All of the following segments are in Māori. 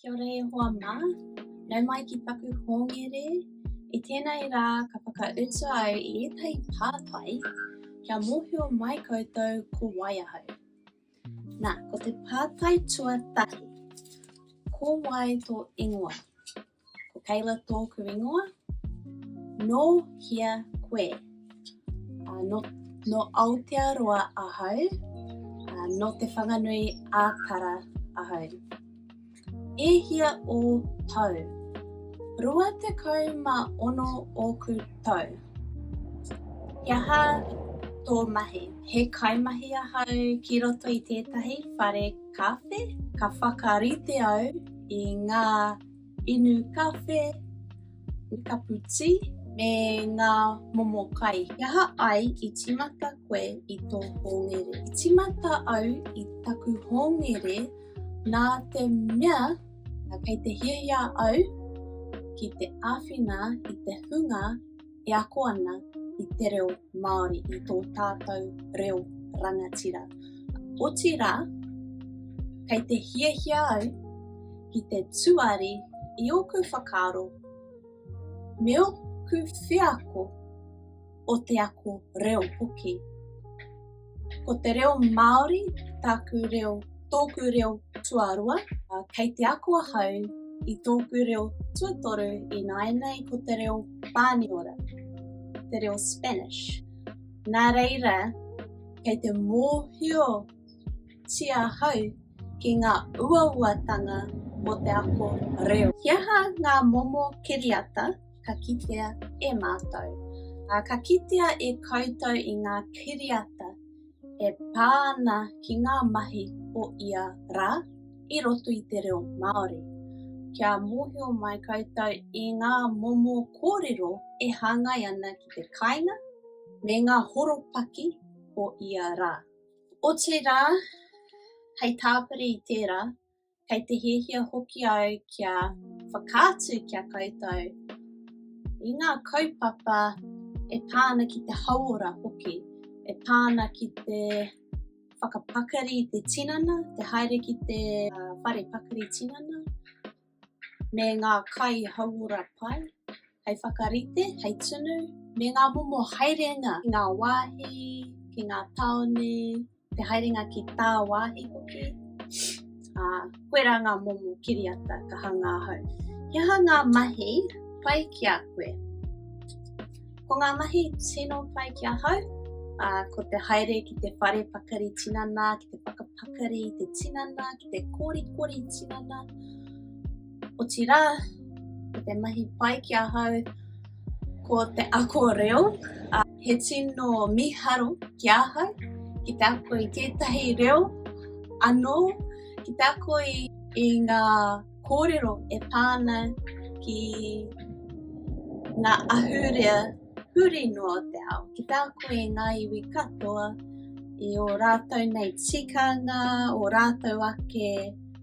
Kia ora e hoa mā, nau mai ki taku hōngere. I tēnei rā ka whakautu au i ētahi pātai kia mōhio mai koutou ko wai ahau. Nā, ko te pātai tuatahi, ko wai tō ingoa? Ko Kayla tōku ingoa. Nō hea koe? Uh, no, no Aotearoa ahau. Uh, no Te Whanganui a Tara ahau. E hia o tau? Rua te kau ma ono ōku tau. He aha tō mahi? He kaimahi ahau ki roto i tētahi whare kāwhe. Ka whakarite au i ngā Inu kawhe, kapu tī, me ngā momo kai. He aha ai i tīmata koe i tō hōngere? I tīmata au i taku hōngere nā te mea kei te hiahia au ki te āwhina i te hunga e ako ana i te reo Māori, i tō tātou reo rangatira. Otirā, kei te hiahia au ki te tuari i ōku whakaaro me ōku wheako o te ako reo hoki. Ko te reo Māori tāku reo, tōku reo tuarua, ā, kei te ako ahau i tōku reo tuatoru ināianei ko te reo Pāniora, te reo Spanish. Nā reira, kei te mōhiotia ahau ki ngā uauatanga o te ako reo. He aha ngā momo kiriata ka kitea e mātou. Ā, ka kitea e koutou i ngā kiriata e pā ana ki ngā mahi o ia rā i roto i te reo Māori. Kia mōhio mai koutou i ngā momo kōrero e hāngai ana ki te kāinga me ngā horopaki o ia rā. Otirā, hei tāpiri i tērā, kei te hiahia hoki au kia whakaatu kia koutou i ngā kaupapa e pā ana ki te hauora hoki, e pā ana ki te whakapakari i te tinana, te haere ki te whare pakari tinana, me ngā kai hauora pai. Hei whakarite, hei tunu, me ngā momo haerenga ki ngā wāhi, ki ngā tāone, te haerenga ki tāwāhi hoki. Ā, koirā ngā momo kiriata ka hangā ahau. He aha ngā mahi pai ki a koe? Ko ngā mahi tino pai ki ahau, ā, ko te haere ki te whare pakari tinana, ki te whakapakari i te tinana, ki te korikori tinana, Otirā, ko te mahi pai ki ahau ko te ako reo. He tino mīharo ki ahau ki te ako i tētahi reo anō, ki te ako i ngā kōrero e pā ana ki ngā ahurea. Huri noa te ao ki tā koe i ngā iwi katoa, i ō rātou nei tikanga, ō rātou ake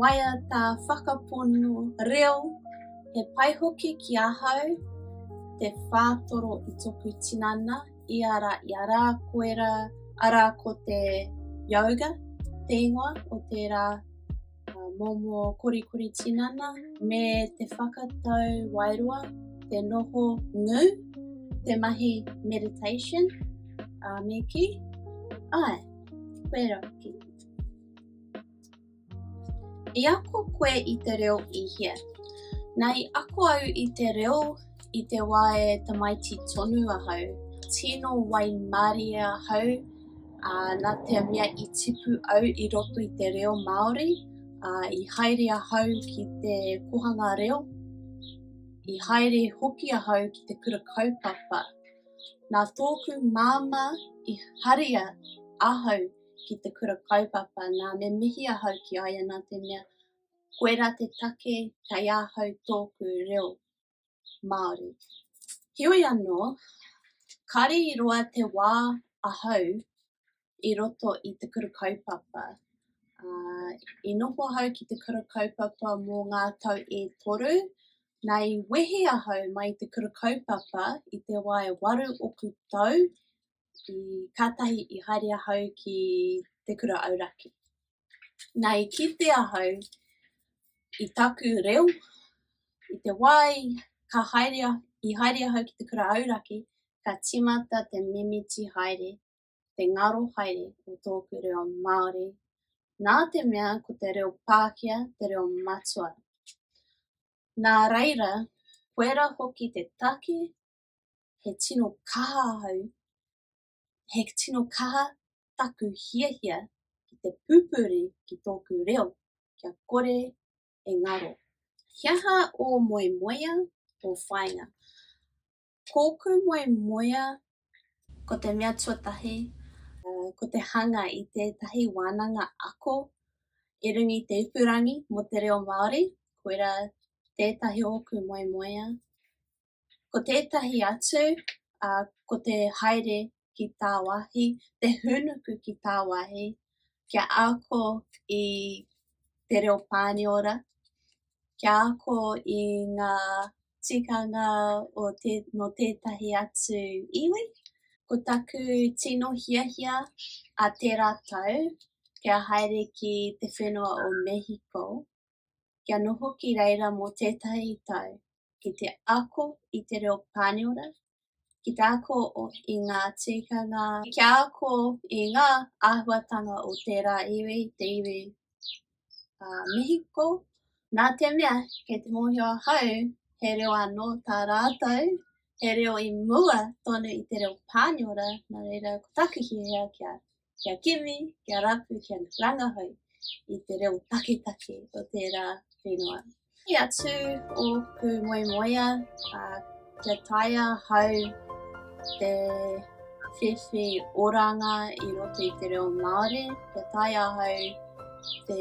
waiata, whakapono, reo, he pai hoki ki ahau te whātoro i toku tinana, i a rā, i a rā, koera, arā ko te yoga, te ingoa o tērā Momo korikori tinana me te whakatau wairoa, te noho ngū, te mahi meditation, a me ki, ai, wera ki. I ako koe i te reo i hea? Na i ako au i te reo I te wā e tamaiti tonu ahau, tino waimarie ahau, ā, nā te mea i tipu au i roto i te reo Māori, ā, i haere ahau ki te kohanga reo, i haere hoki ahau ki te kura kaupapa. Nā tōku māmā i haria ahau ki te kura kaupapa, nā, me mihi ahau ki a ia nā te mea, koirā te take kei ahau tōku reo. Māori. Heoi anō, kāre i roa te wā ahau i roto i te kura kaupapa. Uh, I noho ahau ki te kura kaupapa mō ngā tau e toru, nā i wehe ahau mai te kura kaupapa i te wae waru oku tau i kātahi i haere ahau ki te kura auraki. Nā i kite ahau i taku reo, i te wāi ka haere, i haere ahau ki te kura auraki, ka timata te mimiti haere, te ngaro haere o tōku reo Māori, nā te mea ko te reo Pākia te reo matua. Nā reira, koera hoki te take he tino kaha ahau, he tino kaha taku hiahia ki te pupuri ki tōku reo, kia kore e ngaro. He aha ō moemoea, ō whāinga? Kōku moemoea, ko te mea tuatahi, ko te hanga i tētahi wānanga ako i runga i te ipurangi mō te reo Māori, koirā tētahi o ōku moemoea. Ko tētahi atu, ā, ko te haere ki tāwāhi, te hūnuku ki tāwāhi, kia ako i te reo Pāniora, kia ako i ngā tikanga o tē, nō tētahi atu iwi. Ko taku tino hiahia a tērā tau, kia haere ki te whenua o Mehiko, kia noho ki reira mō tētahi tau, ki te ako i te reo Pāniora, ki te ako i ngā tikanga, kia ako i ngā āhuatanga o tērā iwi, te iwi a Mihiko, nā te mea, kei te mōhio ahau, he reo anō tā rātou, he reo i mua tonu i te reo Pāniora, nā reira, ko taku hiahia kia kia kimi, kia rapu, kia rangahau i te reo taketake o tērā whenua. Ki a tū o ku moemoea, kia taia hau te whiwhi oranga i roto i te reo Māori, kia taia hau te,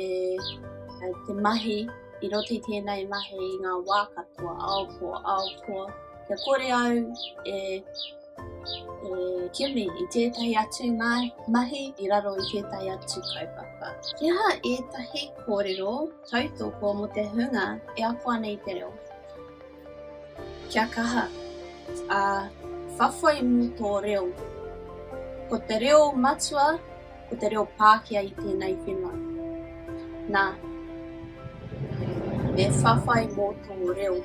te mahi i roto i tēnei mahi i ngā wā katoa, aopoa, aopoa, kia kore au e E kimi i tētahi atu mahi i raro i tētahi atu kaupapa. He aha ētahi kōrero tautoko mō te hunga e ako ana i te reo? Kia kaha, ā, whawhai mō tō reo. Ko te reo matua, ko te reo Pākehā i tēnei whenua. Nā, e whawhai mō tō reo.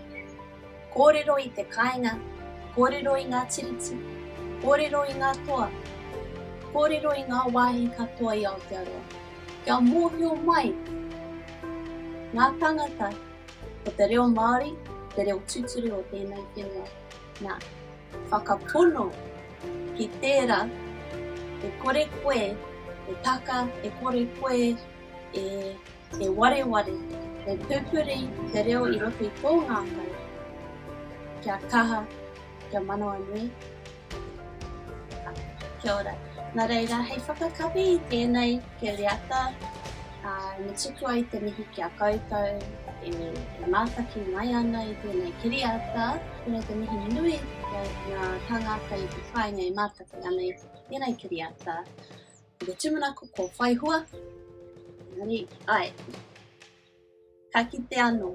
Kōrero i te kāinga, kōrero i ngā tiriti, kōrero i ngā toa, kōrero i ngā wāhi katoa i Aotearoa, kia mōhio mai ngā tāngata ko te reo Māori te reo tūturu o tēnei whenua. Nā, whakapono ki tērā e kore koe e taka, e kore koe e. he wareware, he pupuri te reo i roto i tō ngākau, kia kaha, kia manawanui. Kia ora. Nā reira, hei whakakapi i tēnei kiriata, ā, me tuku ai te mihi ki a koutou e mātaki mai ana i tēnei kiriata. Tēnei te mihi nui ki ngā tāngata i te whāinga e mātaki ana i tēnei kiriata. Ko te tumana ko kua whai hua. Engari, ai. Ka kite anō.